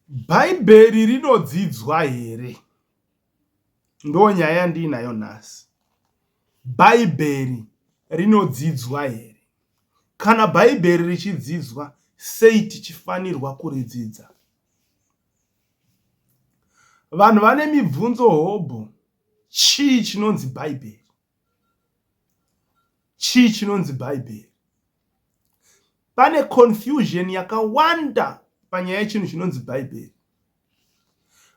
Bhaibheri rinodzidzwa here? Ndonyaya yandiinayo nhasi. Bhaibheri rinodzidzwa here? Kana Bhaibheri richidzidzwa, sei tichifanirwa kuridzidza? Vanhu vane mibvunzo hobho, chii chinonzi Bhaibheri? Chii chinonzi Bhaibheri? Pane confusion yakawanda panyaya yechinhu chinonzi Bhaibheri.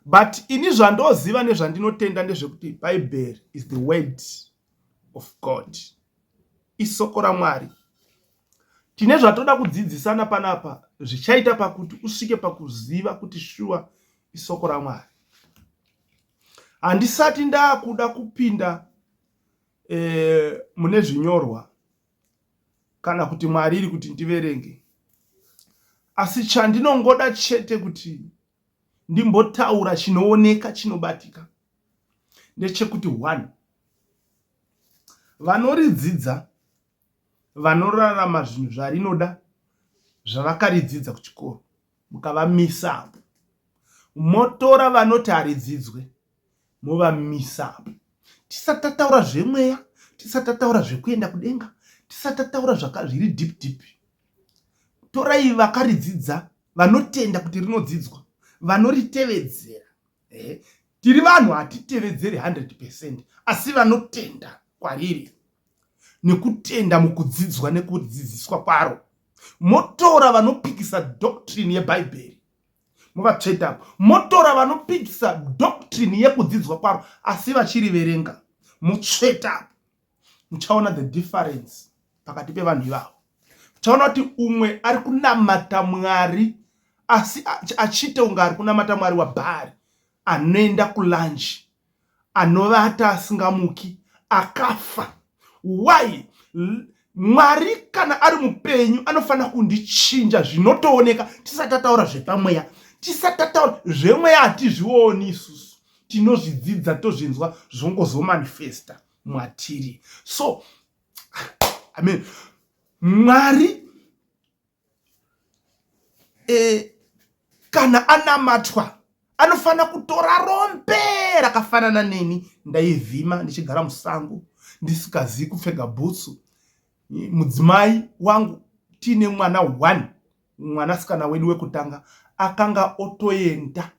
But ini zvandoziva nezvandinotenda ndezvekuti Bhaibheri is the word of God. Isoko raMwari. Tine zvatoda kudzidzisana panapa zvichaita pakuti usvike pakuziva kuti shuwa isoko raMwari. Handisati ndakuda kupinda eh, mune zvinyorwa kana kuti Mwari iri kuti ndiverenge. Asi chandinongoda chete kuti ndimbotaura chinooneka chinobatika ndechekuti one vanoridzidza vanorarama zvinhu zvarinoda zvavakaridzidza kuchikoro mukavamisa apo motora vanoti haridzidzwe movamisa apo tisati tataura zvemweya tisati tataura zvekuenda kudenga tisati tataura zviri deep deep torai vakaridzidza vanotenda kuti rinodzidzwa vanoritevedzera ehe Tiri vanhu hatitevedzeri 100 percent asi vanotenda kwariri nekutenda mukudzidzwa nekudzidziswa kwaro motora vanopikisa doctrine yebhaibheri muvatsveta motora vanopikisa doctrine yekudzidzwa kwaro asi vachiriverenga mutsveta muchaona the difference pakati pevanhu ivavo muchaona kuti umwe ari kunamata mwari asi achiita kunge ari kunamata mwari wabhari anoenda kulanji anovata asingamuki akafa why mwari kana ari mupenyu anofanira kundichinja zvinotooneka tisati tataura zvepamweya tisati tataura zvemweya hatizvioni isusu tinozvidzidza tozvinzwa zvongozomanifesta mwatiri so I mean, mwari e, kana anamatwa anofanira kutora rombe rakafanana neni ndaivhima ndichigara musango ndisikazivi kupfega bhutsu mudzimai wangu tiine mwana one mwanasikana wedu wekutanga akanga otoenda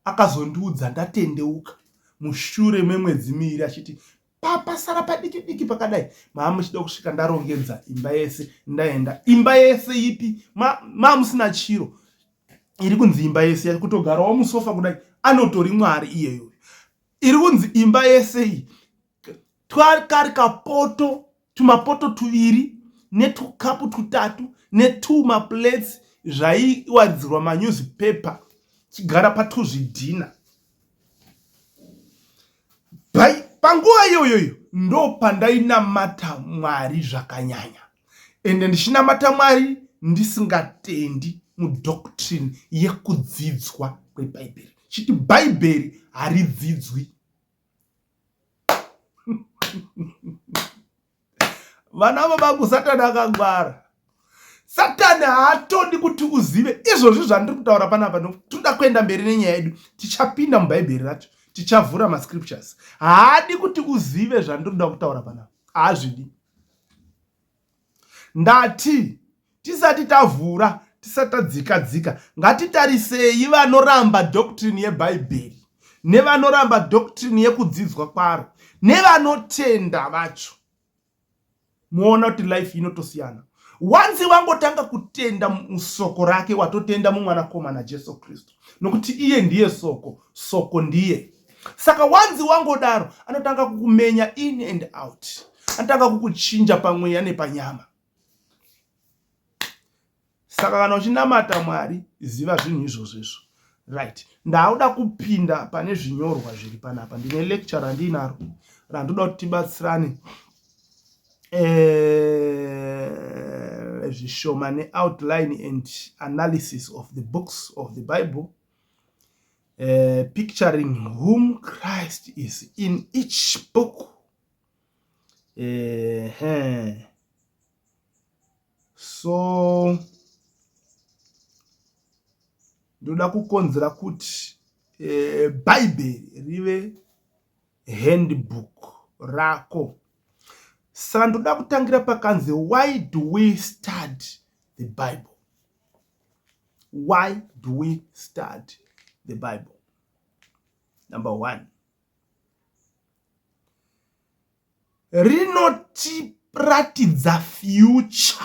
Akazondiudza ndatendeuka mushure memwedzi miiri achiti papasara padiki diki pakadai maamuchida kusvika ndarongedza imba yese ndaenda imba yese ipi maamusina ma chiro iri kunzi imba yese yari kutogarawo musofa kudai anotori mwari iyeyo iri kunzi imba yese iyi twakari kapoto tumapoto tuviri netukapu tutatu netuma plates zvaiwaridzirwa manewspaper chigara patuzvidhina bai panguva iyoyoyo ndo pandainamata mwari zvakanyanya ende ndichinamata mwari ndisingatendi mudoctrine yekudzidzwa kwebhaibheri chiti bhaibheri haridzidzwi vana vabangu satani akangwara satani haatodi kuti uzive izvozvi zvandiri kutaura panapa nokutoda kuenda mberi nenyaya yedu tichapinda mubhaibheri racho tichavhura mascriptures haadi kuti uzive zvandiri kuda kutaura panapa haazvidi Ndati tisati tavhura tisati tadzika dzika ngatitarisei vanoramba doctrine yebhaibheri nevanoramba doctrine yekudzidzwa kwaro nevanotenda vacho moona kuti life inotosiyana wanzi wangotanga kutenda musoko rake watotenda mumwanakomana jesu kristu nokuti iye ndiye soko soko ndiye saka wanzi wangodaro anotanga kukumenya in and out anotanga kukuchinja pamweya nepanyama saka kana uchinamata mwari ziva zvinhu izvozvo izvo right ndauda kupinda pane zvinyorwa zviri panapa ndine lecture randiinaro randoda kuti tibatsirane eh, zvishoma neoutline and analysis of the books of the bible uh, picturing whom christ is in each book uh, eh, huh. so ndoda kukonzera kuti eh, bhaibheri rive handbook rako. Saka ndoda kutangira pakanzi why do we study the Bible? Why do we study the Bible? Number one. Rinotiratidza future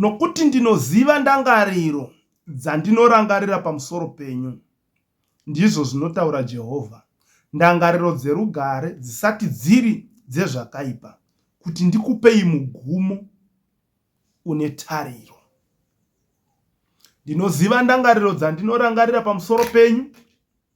Nokuti ndinoziva ndangariro dzandinorangarira pamusoro penyu, ndizvo zvinotaura Jehovha, ndangariro dzerugare, dzisati dziri dzezvakaipa, kuti ndikupei mugumo une tariro. Ndinoziva ndangariro dzandinorangarira pamusoro penyu,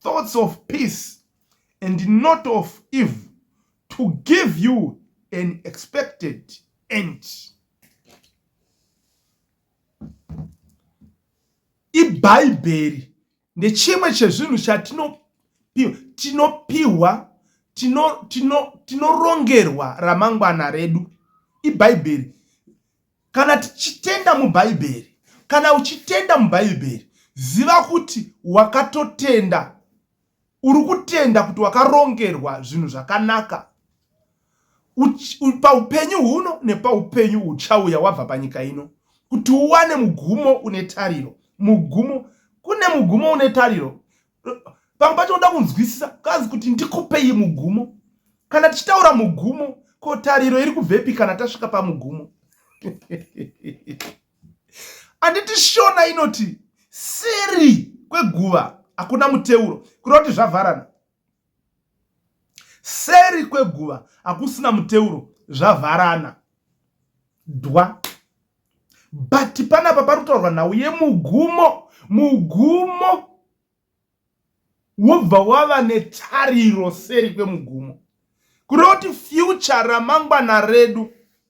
thoughts of peace and not of evil to give you an expected end ibhaibheri ndechimwe chezvinhu chatinopiwa tinopiwa tinorongerwa tino, tino ramangwana redu ibhaibheri Kana tichitenda muBhaibheri, kana uchitenda muBhaibheri, ziva kuti wakatotenda. Uri kutenda kuti wakarongerwa zvinhu zvakanaka paupenyu huno nepaupenyu huchauya wabva panyika ino, kuti uwane mugumo une tariro. Mugumo, kune mugumo une tariro pamwe pacho unoda kunzwisisa kanzi kuti ndikupei mugumo kana tichitaura mugumo ko tariro iri kubvepi kana tasvika pamugumo anditi shona inoti seri kweguva hakuna muteuro kureva kuti zvavharana Seri kweguva hakusina muteuro zvavharana dwa but panapa pari kutaurwa nhau yemugumo mugumo wobva wava netariro seri kwemugumo kureva kuti future ramangwana redu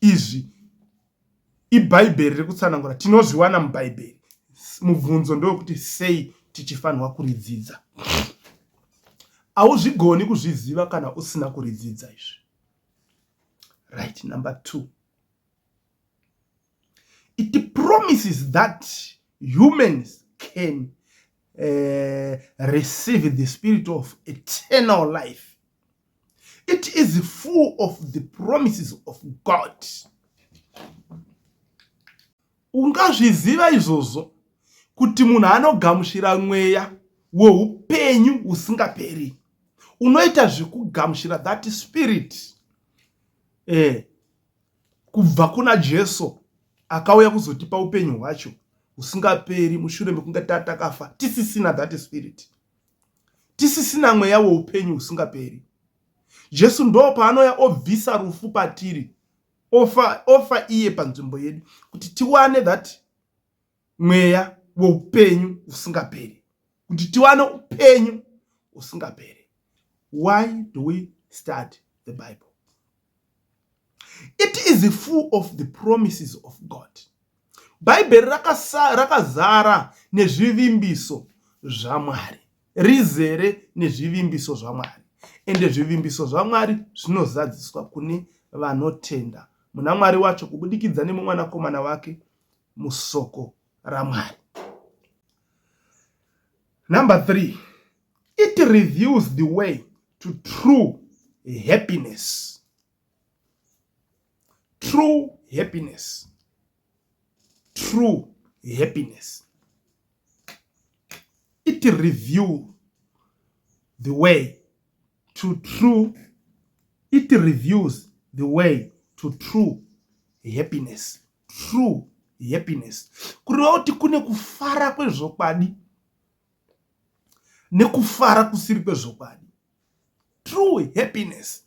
izvi ibhaibheri riri kutsanangura tinozviwana mubhaibheri mubvunzo ndewekuti sei tichifanirwa kuridzidza hauzvigoni kuzviziva kana usina kuridzidza izvi right number two it promises that humans can uh, receive the spirit of eternal life it is full of the promises of god ungazviziva izvozvo kuti munhu anogamuchira mweya weupenyu usingaperi unoita zvekugamuchira that spirit eh, kubva kuna jesu akauya kuzotipa upenyu hwacho usingaperi mushure mekunge tatakafa tisisina that spirit tisisina mweya weupenyu husingaperi. Jesu ndo paanouya obvisa rufu patiri, ofa, ofa iye panzvimbo yedu kuti tiwane that mweya weupenyu husingaperi, kuti tiwane upenyu husingaperi. Why do we study the Bible? It is full of the promises of God. Bhaibheri rakasa- rakazara nezvivimbiso zvaMwari, rizere nezvivimbiso zvaMwari. Ende zvivimbiso zvaMwari zvinozadziswa kune vanotenda muna Mwari wacho kubudikidza nemumwanakomana wake musoko raMwari. Number three, it reveals the way to true happiness. true happiness true happiness it review the way to true it reviews the way to true happiness true happiness kureva kuti kune kufara kwezvokwadi nekufara kusiri kwezvokwadi true happiness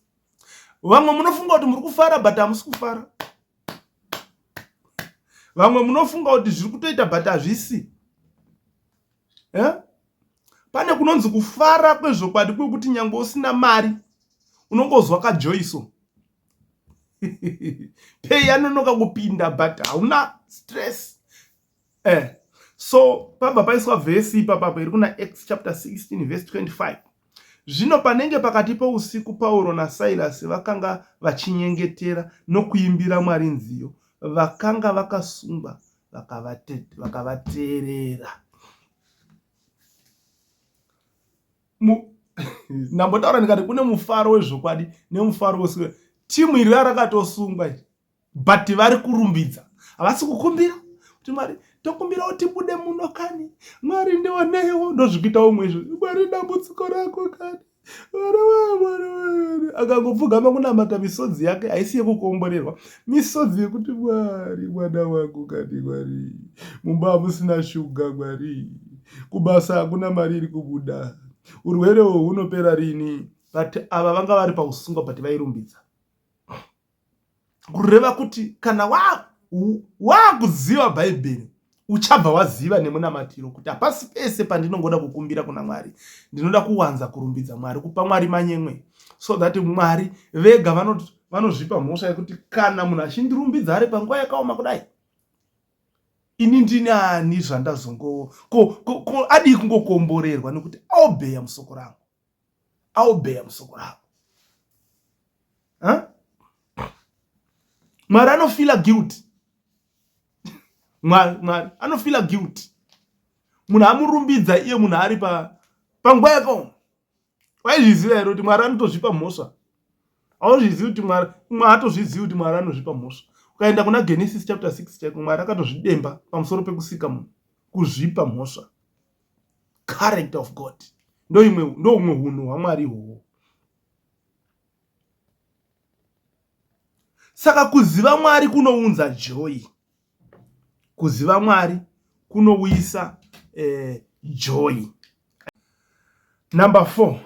vamwe munofunga kuti muri kufara but hamusi kufara vamwe munofunga kuti zviri kutoita but hazvisi eh? pane kunonzi kufara kwezvokwadi kwekuti nyange usina mari unongozwa kajoiso pei anonoka kupinda but hauna stress eh so pabva paiswa vhesi ipapapo iri kuna acts chapter 16 vhesi 25 zvino panenge pakati pousiku pauro nasairasi vakanga vachinyengetera nokuimbira mwari nziyo vakanga vakasungwa vakavateerera ndambotaura ndikati kune mufaro wezvokwadi nemufaro wesiwe timu iri rarakatosungwa but vari kurumbidza havasi kukumbira kuti mwari tokumbira kuti bude muno kani mwari ndionewo ndozvikuita umwe izvo mwari dambudziko rako kani akangopfugama kunamata misodzi yake haisi yekukomborerwa misodzi yekuti mwari mwana wangu kani mwari mumba hamusina shuga mwari kubasa hakuna mari iri kubuda urwere uhwu hunopera rini but ava vanga vari pausungwa but vairumbidza kureva kuti kana waakuziva bhaibheri uchabva waziva nemunamatiro kuti hapasi pese pandinongoda kukumbira kuna mwari ndinoda kuwanza kurumbidza mwari kupa mwari manyemwe so that mwari vega vanozvipa mhosva yekuti kana munhu achindirumbidza ari panguva yakaoma kudai ini ndini ani zvandazongowo ko adii kungokomborerwa nekuti aobeya musoko rangu aobeya musoko ravo huh? mwari anofila guilty mwari mwari anofila guilty munhu amurumbidza iye munhu ari pa panguva yakaoma waizviziva here kuti mwari anotozvipa mhosva auzvizivi kuti mwari mwa atozvizivi kuti mwari anozvipa mhosva ukaenda kuna genesis chapter 6 chaiko mwari akatozvidemba pamusoro pekusika munhu kuzvipa mhosva character of god ndoimwe ndoumwe hunhu hwamwari ihwohwo saka kuziva mwari kunounza joy kuziva mwari kunouyisa eh, joy number four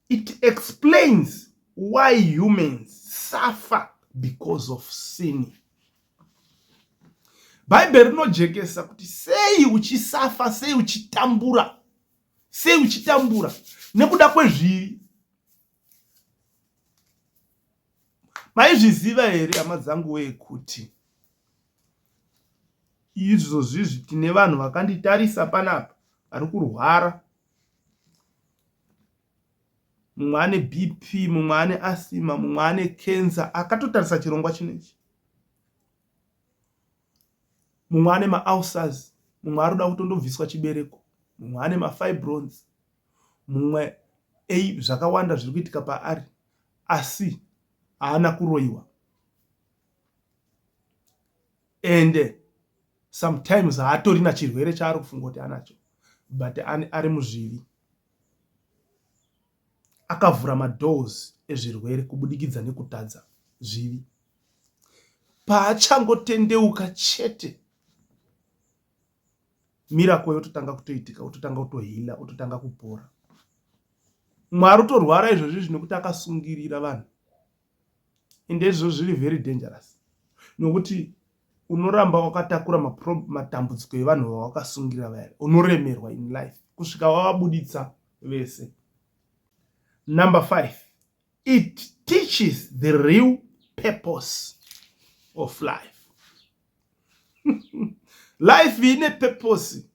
It explains why humans suffer because of sinning. Bhaibheri rinojekesa kuti sei uchisafa, sei uchitambura, sei uchitambura nekuda kwezvivi. Maizviziva here hama dzangu wee kuti izvozvizvi tine vanhu vakanditarisa panapa vari kurwara mumwe ane BP mumwe ane asthma mumwe ane cancer akatotarisa chirongwa chinechi mumwe ane maulcers mumwe ari kuda kutondobviswa chibereko mumwe ane mafibrones mumwe ei zvakawanda zviri kuitika paari asi haana kuroyiwa ende sometimes haatorina chirwere chaari kufunga kuti anacho but ari muzvivi akavhura madoors ezvirwere kubudikidza nekutadza zvivi paachangotendeuka chete mirako yototanga kutoitika ototanga kutohila ototanga kupora mwari utorwara izvozvi zvinokuti akasungirira vanhu indezvo zviri very dangerous nokuti unoramba wakatakura matambudziko evanhu vawakasungira vaya unoremerwa in life kusvika wavabuditsa vese number five it teaches the real purpose of life life ine purpose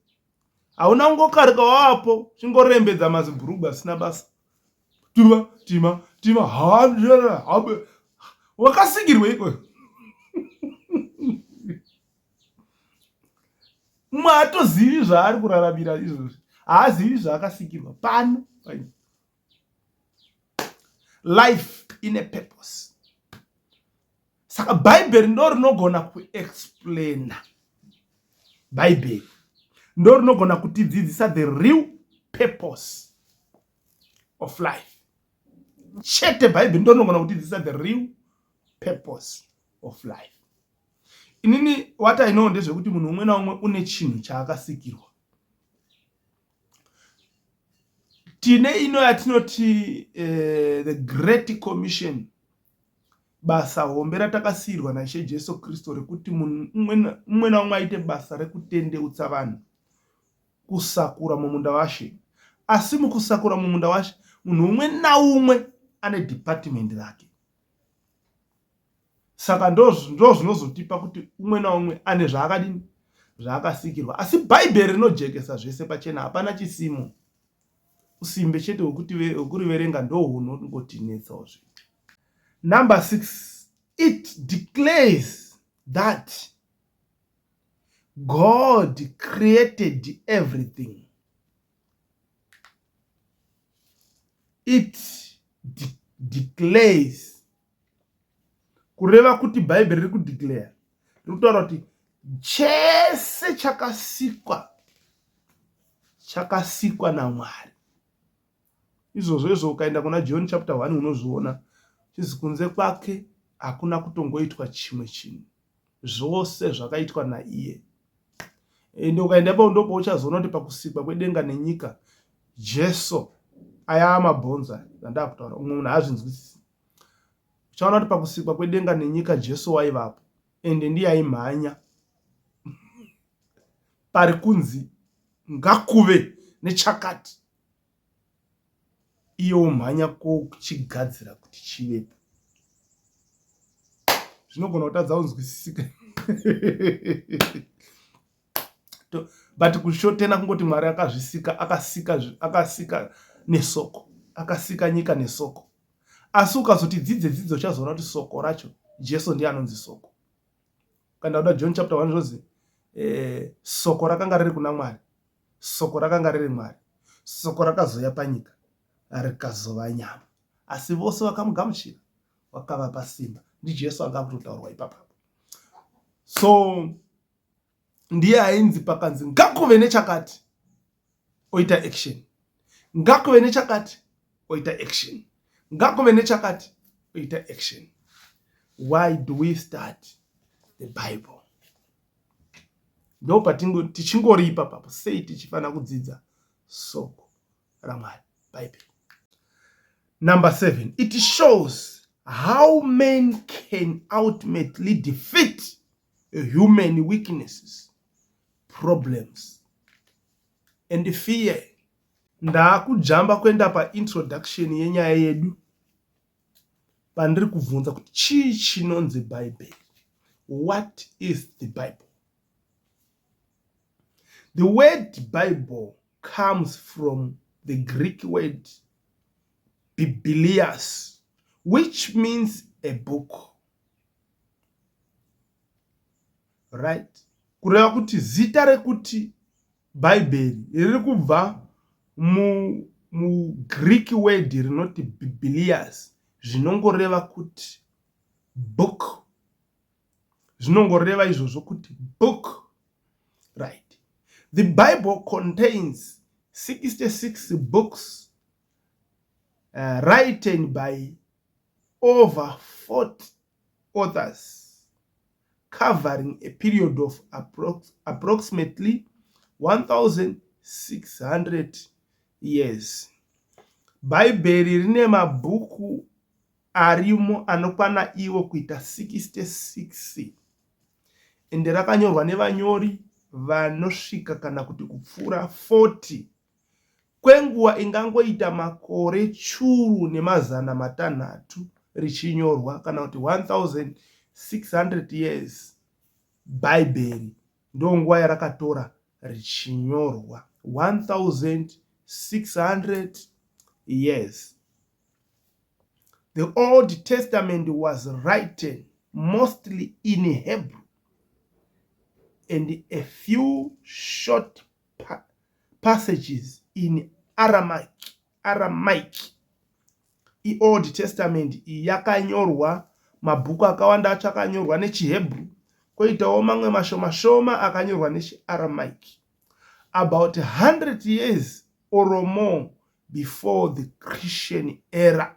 hauna ngokarika wapo chingorembedza mazibhurugwa asina basa tima tima tima hamdara hambe wakasingirwa iko mumwe haatozivi zvaari kuraramira izvozvi haazivi zvaakasikirwa pano paino life in a purpose saka bhaibheri ndo rinogona kuexplaina bhaibheri ndo rinogona kutidzidzisa the real purpose of life chete bhaibheri ndo rinogona kutidzidzisa the real purpose of life inini watainoo ndezvekuti munhu umwe naumwe une chinhu chaakasikirwa tine ino yatinoti uh, the great commission basa hombe ratakasiirwa naishe jesu kristu rekuti munhu umwe naumwe aite basa rekutendeutsa vanhu kusakura mumunda washe asi mukusakura mumunda washe munhu umwe naumwe ane dhipatimendi rake saka ndozvinozotipa kuti umwe naumwe ane zvaakadini zvaakasikirwa asi bhaibheri rinojekesa zvese pachena hapana chisimo usimbe chete wekuriverenga ndohunongotinetsazve number six it declares that god created everything it declares kureva kuti bhaibheri riri kudeclare riri kutaura kuti chese chakasikwa chakasikwa namwari izvozvo izvo ukaenda kuna john chapter 1 unozviona chizi kunze kwake hakuna kutongoitwa chimwe chinhu zvose zvakaitwa naiye ende ukaenda ipapo ndipo pauchazoona kuti pakusikwa kwedenga nenyika jesu ayaa mabhonzo aya andaa kutaura umwe munhu haazvinzwisisi uchaona kuti pakusikwa kwedenga nenyika jesu waivapo ende ndiye aimhanya pari kunzi ngakuve nechakati iye omhanya kochigadzira kuti chivepo zvinogona kutadza kunzwisisika but kushotena kungoti mwari akazvisika akasika akasika nesoko akasika nyika nesoko asi ukazoti dzidze dzidzo uchazoona kuti soko racho jesu ndiye anonzi soko kana uda john chapter 1 zvozi eh, soko rakanga riri kuna mwari Soko rakanga riri Mwari. Soko rakazouya panyika, rikazova nyama. Asi vose vakamugamuchira, wakavapa simba. NdiJesu anga akutotaurwa ipapa. So ndiye ainzi pakanzi ngakuve nechakati oita action, ngakuve nechakati oita action, ngakuve nechakati oita action. Why do we start the Bible? ndo patingo tichingoripa papo sei tichifanira kudzidza soko ramwari bhaibheri number seven it shows how men can ultimately defeat human weaknesses problems and fear ndaakujamba kuenda paintroduction yenyaya yedu pandiri kubvunza kuti chii chinonzi bhaibheri what is the bible the word bible comes from the greek word biblias which means a book right kureva kuti zita rekuti Bhaibheri riri kubva muGreek word rinoti bhibliyasi zvinongoreva kuti book. Zvinongoreva izvozvo kuti book. Right. The Bible contains 66 books uh, written by over 40 authors covering a period of approx approximately 1600 years bhaibheri rine mabhuku arimo anokwana iwo kuita 66 ende rakanyorwa nevanyori vanosvika kana kuti kupfuura 40 kwenguva ingangoita makore churu nemazana matanhatu richinyorwa, kana kuti 1600 years, Bhaibheri ndonguva yarakatora richinyorwa 1600 years. The Old Testament was written mostly in Hebrew and a few short pa, passages in Aramaic, Aramaic. IOld Testament iyi yakanyorwa mabhuku akawanda acho akanyorwa nechiHebrew koitawo mamwe mashoma shoma akanyorwa nechiAramaic about 100 years or more before the Christian era.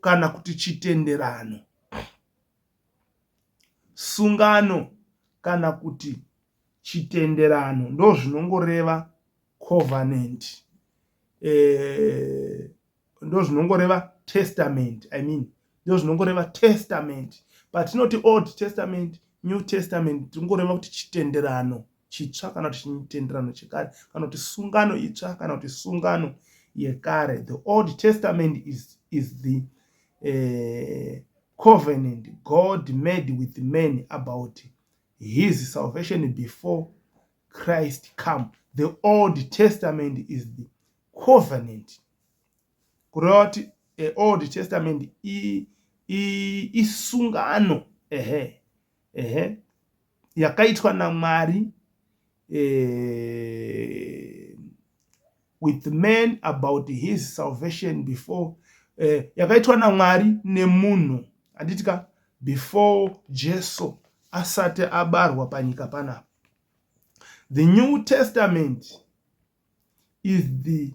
kana kuti chitenderano, sungano kana kuti chitenderano ndozvinongoreva covenant eh, ndozvinongoreva testament i mean ndozvinongoreva testament patinoti old testament new testament tingoreva kuti chitenderano chitsva kana kuti chitenderano chekare kana kuti sungano itsva kana kuti sungano yekare the old testament is, is the uh, covenant god made with man about his salvation before christ come the old testament is the covenant kureva kuti eh, old testament isungano ehe ehe yakaitwa naMwari eh, with man about his salvation before eh, yakaitwa naMwari nemunhu anditika before Jesu asati abarwa panyika panapa the new testament is the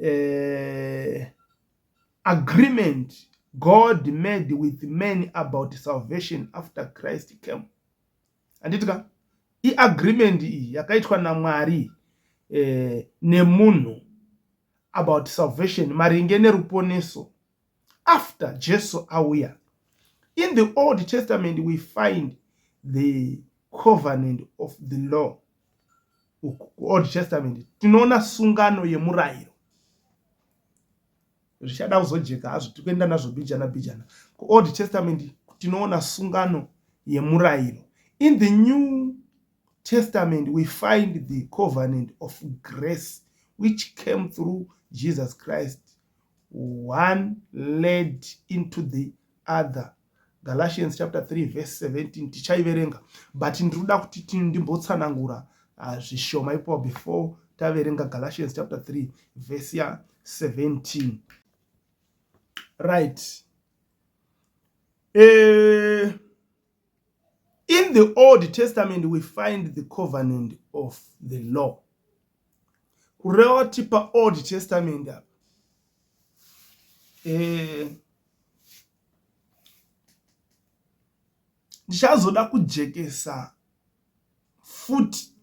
uh, agreement God made with men about salvation after Christ came. Handiti ka iagreement iyi yakaitwa naMwari eh, nemunhu about salvation maringe neruponeso after jesu auya in the old testament we find the covenant of the law old testament tinoona sungano yemurayiro zvichada kuzojeka hazvo tikuenda nazvo bijana bijana kuold testament tinoona sungano yemurayiro in the new testament we find the covenant of grace which came through jesus christ one led into the other galatians chapter 3 verse 17 tichaiverenga but ndiri kuda kuti ndimbotsanangura ah, zvishoma ipo before taverenga galatians chapter 3 verse ya 17 right eh, In the Old Testament we find the covenant of the law. Kureva kuti pa Old Testament apa eh, ndichazoda kujekesa futi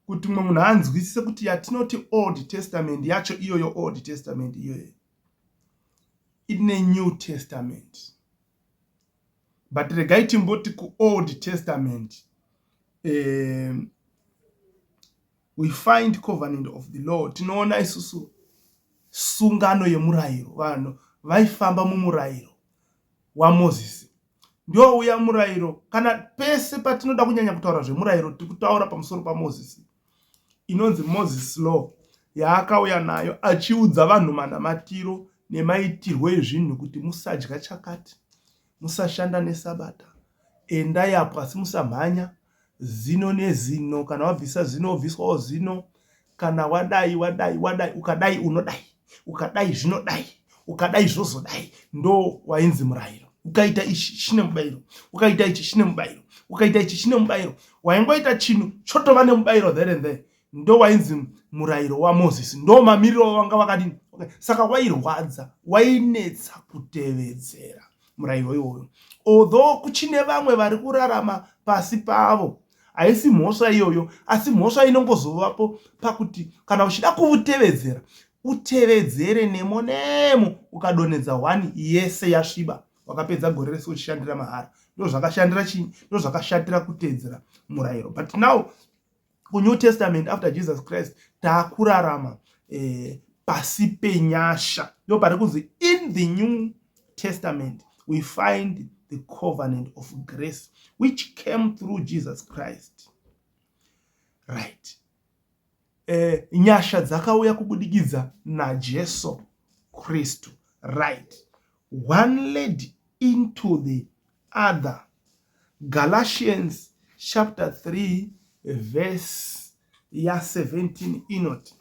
kuti mumwe munhu anzwisise kuti yatinoti Old Testament yacho iyoyo Old Testament iyoyo ine New Testament. but regai timboti kuold testament um, we find covenant of the law tinoona isusu sungano yemurayiro vanhu vaifamba mumurayiro wamozisi ndiwo uya murayiro kana pese patinoda kunyanya kutaura zvemurayiro tiri kutaura pamusoro pamozisi inonzi Moses Law yaakauya nayo achiudza vanhu manamatiro nemaitirwo ezvinhu kuti musadya chakati, musashanda nesabata, endai apo asi musamhanya, zino nezino, kana wabvisa zino wobviswawo zino, kana wadai wadai wadai ukadai unodai. ukadai zvinodai ukadai zvozodai ndo wainzi murayiro ukaita ichi chine mubayiro ukaita ichi chine mubayiro ukaita ichi chine mubayiro waingoita chinhu chotova nemubayiro there and there ndo wainzi murayiro wamozisi ndo mamiriro wanga wakadini okay. saka wairwadza wainetsa kutevedzera murayiro iwoyo although kuchine vamwe vari kurarama pasi pavo haisi mhosva iyoyo asi mhosva inongozovapo pakuti kana uchida kuutevedzera utevedzere nemo nemo ukadonhedza hwani yese yasviba wakapedza gore rese uchishandira mahara ndozvakashandira chii ndozvakashatira kutedzera murayiro but now kunew testament after jesus christ taakurarama eh, pasi penyasha ndo pari kunzi in the new testament we find the covenant of grace which came through jesus christ right eh, nyasha dzakauya kubudikidza najesu kristu right one led into the Other. Galatians chapter 3 verse ya 17 inoti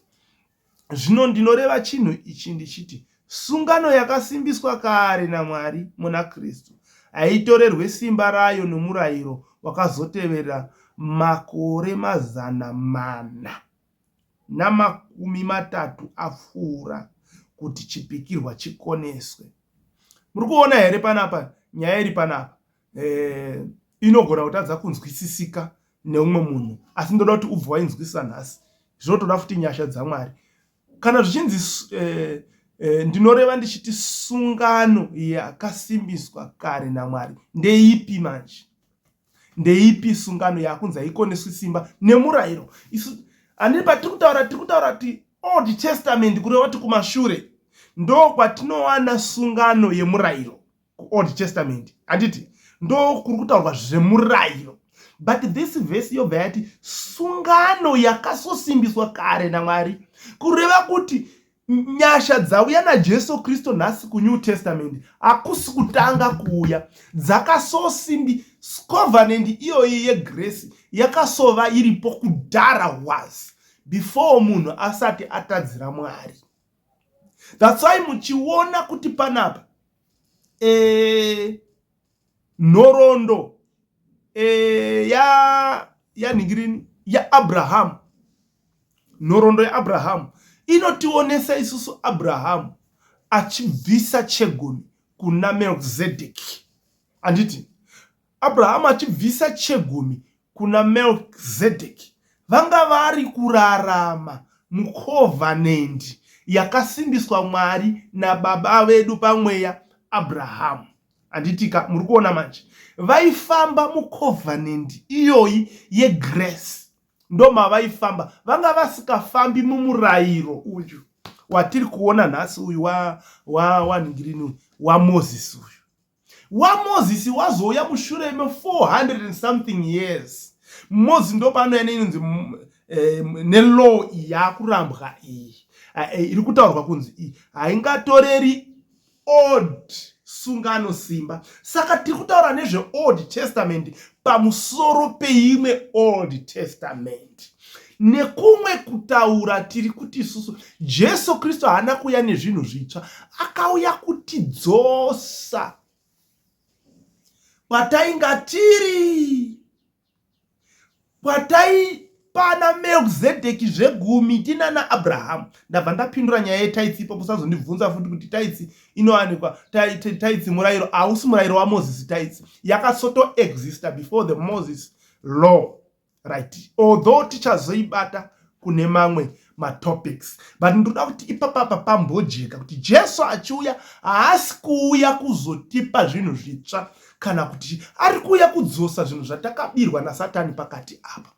zvino ndinoreva chinhu ichi ndichiti sungano yakasimbiswa kare namwari muna kristu haitorerwe simba rayo nomurayiro wakazotevera makore mazana mana namakumi matatu apfuura kuti chipikirwa chikoneswe. Muri kuona here panapa nyaya iri panapa eh, inogona kutadza kunzwisisika neumwe munhu asi ndoda kuti ubva wainzwisisa nhasi zvinotoda futi nyasha dzamwari kana zvichinzi eh, eh, ndinoreva ndichiti sungano yakasimbiswa kare namwari ndeipi manje ndeipi sungano yakunzi haikoneswi simba nemurayiro isu handii patiri kutaura tiri kutaura kuti old testament kureva kuti kumashure ndo kwatinowana sungano yemurayiro kuold testament handiti ndo kuri kutaurwa zvemurayiro but this vhesi yobva yati sungano yakasosimbiswa kare namwari kureva kuti Nyasha dzauya naJesu Kristu nhasi kuNew Testament hakusi kutanga kuuya. Dzakasosimbi covenant iyoyi yegrace yakasova iripo kudhara was before munhu asati atadzira Mwari. That's why muchiona kuti panapa eh nhoroondo e, ya yanhingirini yaabrahamu nhoroondo yaabrahamu inotionesa isusu abrahamu achibvisa chegumi kuna melkizedeki handiti abrahamu achibvisa chegumi kuna melkizedeki vanga vari kurarama mukovanendi yakasimbiswa mwari nababa vedu pamweya abrahamu handitika muri kuona manje vaifamba mucovenant iyoyi yegrace ndomavaifamba vanga vasikafambi mumurayiro uyu watiri kuona nhasi uyu wanhingirini wa, wa, wa wamozisi uyu wamozisi wazouya mushure me400 and something years mozisi ndopaanouya neinonzi eh, nelaw yakurambwa iyi eh, iri kutaurwa kunzi iyi haingatoreri old sungano simba saka tiri kutaura nezveold testament pamusoro peimwe old testament nekumwe kutaura tiri kuti isusu jesu kristu haana kuuya nezvinhu zvitsva akauya kutidzosa kwatainga tiri kwataipana melkizedheki zvegumi tinana abrahamu ndabva ndapindura nyaya yetaitsi ipo musazondibvunza futi kuti taitsi inowanikwa taitsi murayiro hausi murayiro wamozisi taitsi yakasoto exista before the moses law right although tichazoibata kune mamwe matopics but ndoda kuti ipapapa pambojeka kuti jesu achiuya haasi kuuya kuzotipa zvinhu zvitsva kana kuti ari kuuya kudzosa zvinhu zvatakabirwa nasatani pakati apa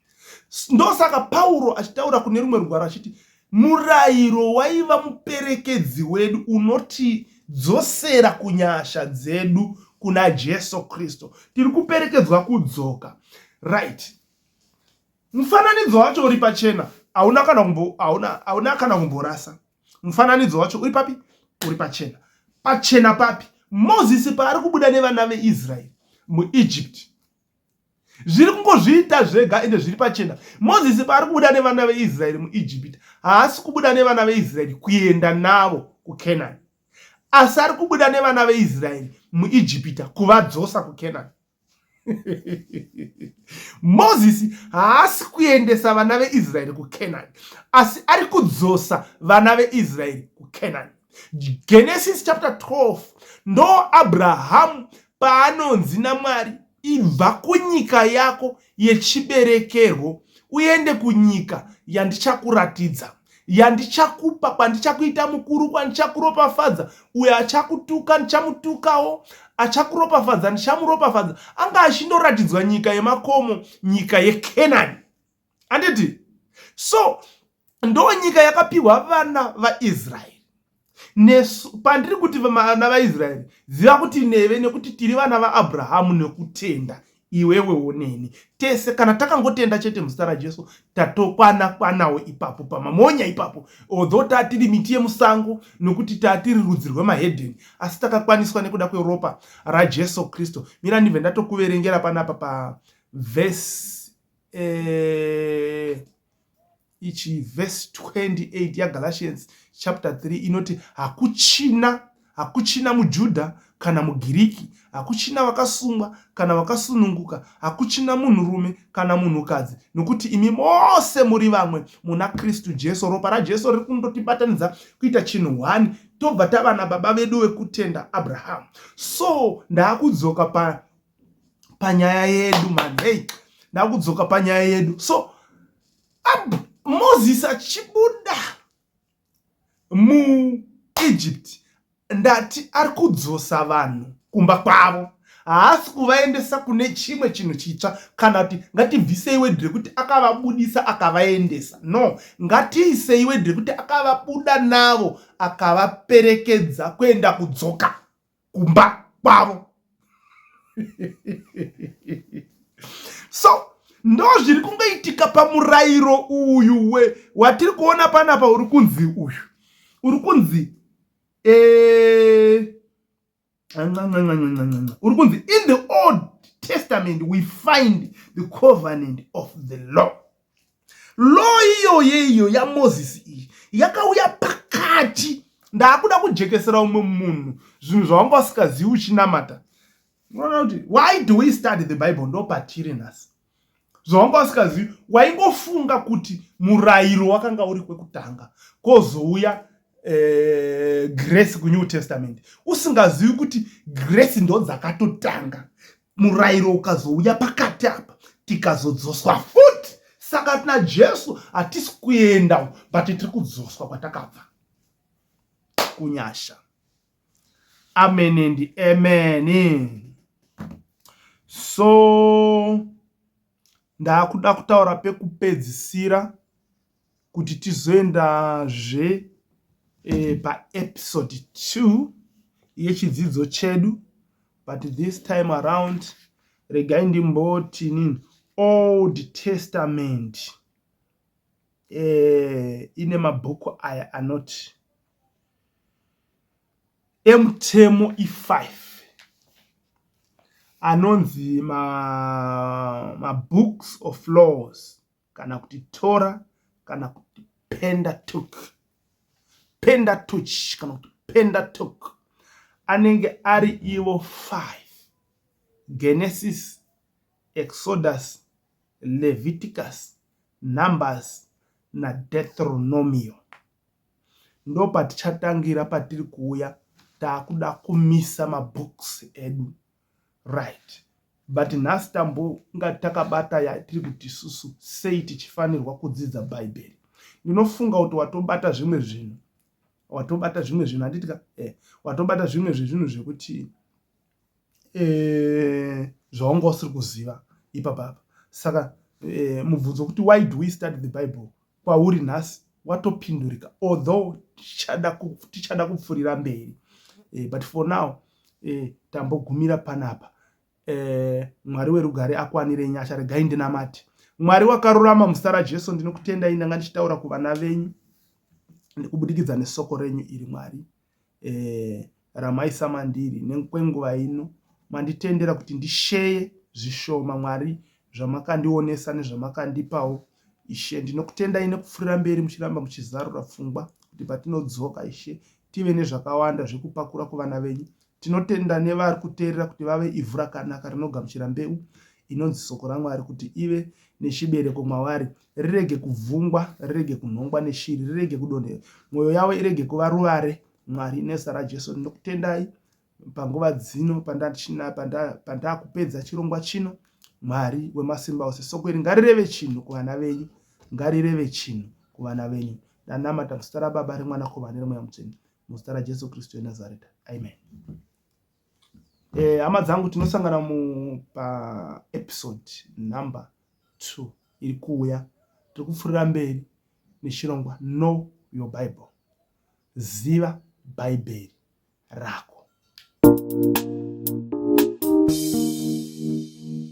ndosaka pauro achitaura kune rumwe rugwaro achiti murayiro waiva muperekedzi wedu unotidzosera kunyasha dzedu kuna jesu kristu tiri kuperekedzwa kudzoka right Mufananidzo wacho uri pachena, hauna kana kumbo hauna hauna kana kumborasa. Mufananidzo wacho uri papi? Uri pachena. Pachena papi? Moses paari kubuda nevana veIsrael muEgypt. Zviri kungozviita zvega ende zviri pachena. Moses paari kubuda nevana veIsrael muEgypt, haasi kubuda nevana veIsrael kuenda navo kuCanaan. Asi ari kubuda nevana veIsrael muEgypt kuvadzosa kuCanaan. mozisi haasi kuendesa vana veisraeri kucanani asi ari kudzosa vana veisraeri kucanani genesis chapter 12 ndo abrahamu paanonzi namwari ibva kunyika yako yechiberekerwo uende kunyika yandichakuratidza yandichakupa kwandichakuita mukuru kwandichakuropafadza uyo achakutuka ndichamutukawo achakuropafadza ndichamuropafadza anga achindoratidzwa nyika yemakomo nyika yekenani anditi so ndo nyika yakapiwa vana vaisraeri nesu pandiri kuti vana vaisraeri ziva kuti neve nekuti tiri vana vaabrahamu nekutenda iwewe woneni tese kana takangotenda chete muzita rajesu tatokwana kwanawo ipapo pamamonya ipapo although tatiri miti yemusango nokuti tatiri rudzi rwemahedheni asi takakwaniswa nekuda kweropa rajesu kristu mira ndibve ndatokuverengera panapa pavhesi eh, ichi verse 28 yagalatians chapter 3 inoti hakuchina hakuchina mujudha kana mugiriki hakuchina vakasungwa kana vakasununguka hakuchina munhurume kana munhukadzi nokuti imi mose muri vamwe muna kristu jesu ropa rajesu riri kundotibatanidza kuita chinhu one tobva tavana baba vedu vekutenda abrahamu so ndaakudzoka pa panyaya yedu man hey ndakudzoka panyaya yedu so ab, moses achibuda muegypt ndati ari kudzosa vanhu kumba kwavo haasi kuvaendesa kune chimwe chinhu chitsva kana kuti ngatibvisei wedhi rekuti akavabudisa akavaendesa no ngatiisei wedhi rekuti akavabuda navo akavaperekedza kuenda kudzoka kumba kwavo so ndo zviri kungoitika pamurayiro uyu we watiri kuona panapa uri kunzi uyu uri kunzi eh, uri kunzi in the old testament we find the covenant of the law Law iyoyo iyo yaMoses iyi yakauya pakati ndaakuda kujekesera umwe munhu zvinhu zvawanga usikazivi uchinamata unoona kuti why do we study the bible ndopatiri nhasi zvawanga usikazivi waingofunga kuti murayiro wakanga uri kwekutanga kozouya eh, grace kunew testament usingazivi kuti grace ndodzakatotanga murayiro ukazouya pakati apa tikazodzoswa futi saka tina jesu hatisi kuenda but tiri kudzoswa kwatakabva kunyasha amen and amen so ndaakuda kutaura pekupedzisira kuti tizoendazve paepisode 2 yechidzidzo chedu but this time around regai ndimboti nini old testament eh, ine mabhuku aya anoti emutemo ifive anonzi mabooks ma of laws kana kuti tora kana kuti pendatuk pendatuch kana kuti pendatuk anenge ari ivo 5 genesis exodus leviticus numbers nadetronomio ndo patichatangira patiri kuuya taakuda kumisa mabooks edu right but nhasi tambonga takabata yatiri kuti isusu sei tichifanirwa kudzidza bhaibheri ndinofunga kuti watobata zvimwe zvinhu watobata zvimwe zvinhu handitika eh, watobata zvimwe zvezvinhu zvekuti eh, zvaunga usiri kuziva ipapapa saka eh, mubvunzo wekuti why do we study the bible kwauri nhasi watopindurika although tichada kupfurira mberi eh, but for now eh, tambogumira panapa eh, mwari werugare akwanire nyasha regai ndinamati mwari wakarurama muzita rajesu ndinokutendai ndanga ndichitaura kuvana venyu nekubudikidza nesoko renyu iri mwari eh, ramaisa mandiri nekwenguva ino manditendera kuti ndisheye zvishoma mwari zvamakandionesa nezvamakandipawo ishe ndinokutendai nekupfurira mberi muchiramba muchizarura pfungwa kuti patinodzoka ishe tive nezvakawanda zvekupakura kuvana venyu tinotenda nevari kuteerera kuti vave ivhu rakanaka rinogamuchira mbeu inonzi soko ramwari kuti ive nechibereko mwavari rirege kubvungwa, rirege kunhongwa neshiri, rirege kudonhera, mwoyo yavo irege kuva ruvare. Mwari, nezita raJesu ndinokutendai panguva dzino pandakupedza chirongwa chino. Mwari wemasimba ose, soko iri ngarireve chinhu kuvana venyu, ngarireve chinhu kuvana venyu. Ndanamata muzita raBaba, reMwanakomana, reMweya Mutsvene, muzita raJesu Kristu weNazareta, amen. Eh, hama dzangu tinosangana mupaepisode number two iri kuuya tiri kupfurira mberi nechirongwa no your bible ziva bhaibheri rako thank you